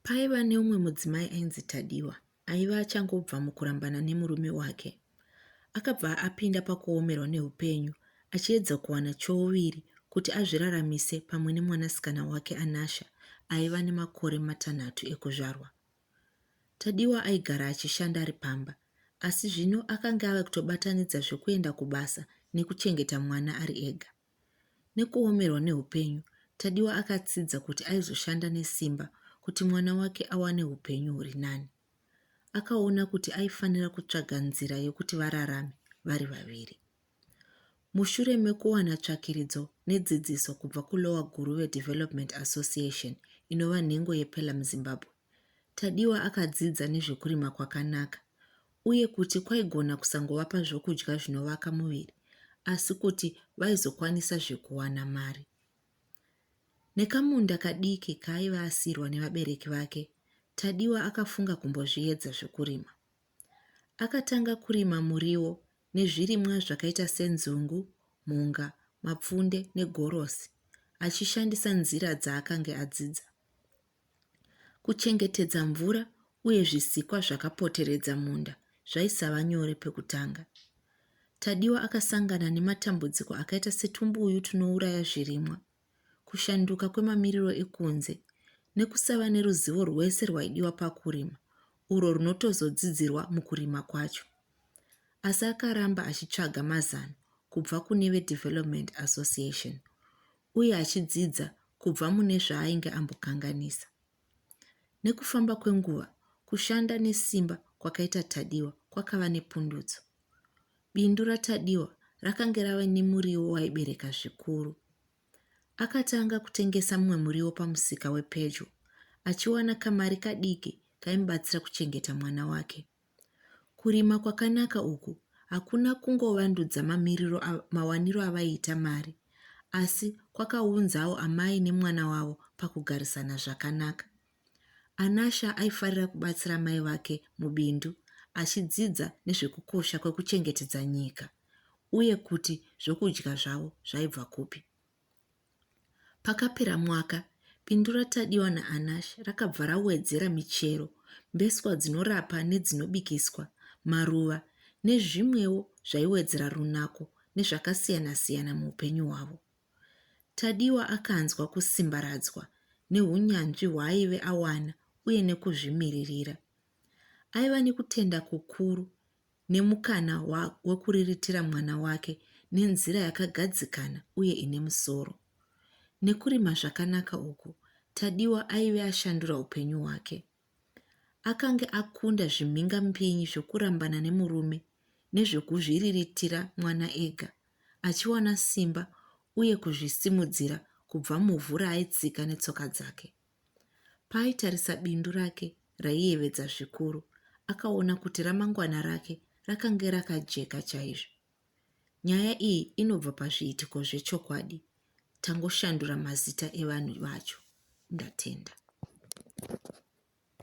Paiva neumwe mudzimai ainzi Tadiwa aiva achangobva mukurambana nemurume wake. Akabva apinda pakuomerwa neupenyu achiedza kuwana chouviri kuti azviraramise pamwe nemwanasikana wake Anasha aiva nemakore matanhatu ekuzvarwa. Tadiwa aigara achishanda ari pamba asi zvino akanga ave kutobatanidza zvekuenda kubasa nekuchengeta mwana ari ega. Nekuomerwa neupenyu, Tadiwa akatsidza kuti aizoshanda nesimba kuti mwana wake awane upenyu huri nani. Akaona kuti aifanira kutsvaga nzira yekuti vararame vari vaviri. Mushure mekuwana tsvakiridzo nedzidziso kubva kuLower Guruve Development Association inova nhengo yePelam Zimbabwe, Tadiwa akadzidza nezvekurima kwakanaka uye kuti kwaigona kusangovapa zvokudya zvinovaka muviri asi kuti vaizokwanisa zvekuwana mari nekamunda kadiki kaaiva asirwa nevabereki vake tadiwa akafunga kumbozviedza zvekurima akatanga kurima muriwo nezvirimwa zvakaita senzungu mhunga mapfunde negorosi achishandisa nzira dzaakange adzidza Kuchengetedza mvura uye zvisikwa zvakapoteredza munda zvaisava nyore pekutanga. Tadiwa akasangana nematambudziko akaita setumbuyu tunouraya zvirimwa, kushanduka kwemamiriro ekunze nekusava neruzivo rwese rwaidiwa pakurima urwo runotozodzidzirwa mukurima kwacho. Asi akaramba achitsvaga mazano kubva kune veDevelopment Association uye achidzidza kubva mune zvaainge ambokanganisa. Nekufamba kwenguva, kushanda nesimba kwakaita Tadiwa kwakava nepundutso. Bindu raTadiwa rakange rave nemuriwo waibereka zvikuru. Akatanga kutengesa mumwe muriwo pamusika wepedyo achiwana kamari kadiki kaimubatsira kuchengeta mwana wake. Kurima kwakanaka uku hakuna kungovandudza mamiriro mawaniro avaiita mari asi kwakaunzawo amai nemwana wavo pakugarisana zvakanaka. Anasha aifarira kubatsira mai vake mubindu achidzidza nezvekukosha kwekuchengetedza nyika uye kuti zvokudya zvavo zvaibva kupi. Pakapera mwaka, bindu raTadiwa naAnash rakabva rawedzera michero, mbeswa dzinorapa nedzinobikiswa, maruva nezvimwewo zvaiwedzera runako nezvakasiyana-siyana muupenyu hwavo. Tadiwa akanzwa kusimbaradzwa nehunyanzvi hwaaive awana uye nekuzvimiririra. Aiva nekutenda kukuru nemukana wekuriritira mwana wake nenzira yakagadzikana uye ine musoro. Nekurima zvakanaka uku, Tadiwa aive ashandura upenyu hwake. Akange akunda zvimhingamupinyi zvekurambana nemurume nezvekuzviriritira mwana ega, achiwana simba uye kuzvisimudzira kubva muvhu raaitsika netsoka dzake. Paaitarisa bindu rake raiyevedza zvikuru, akaona kuti ramangwana rake rakange rakajeka chaizvo. Nyaya iyi inobva pazviitiko zvechokwadi. Tangoshandura mazita evanhu vacho. Ndatenda.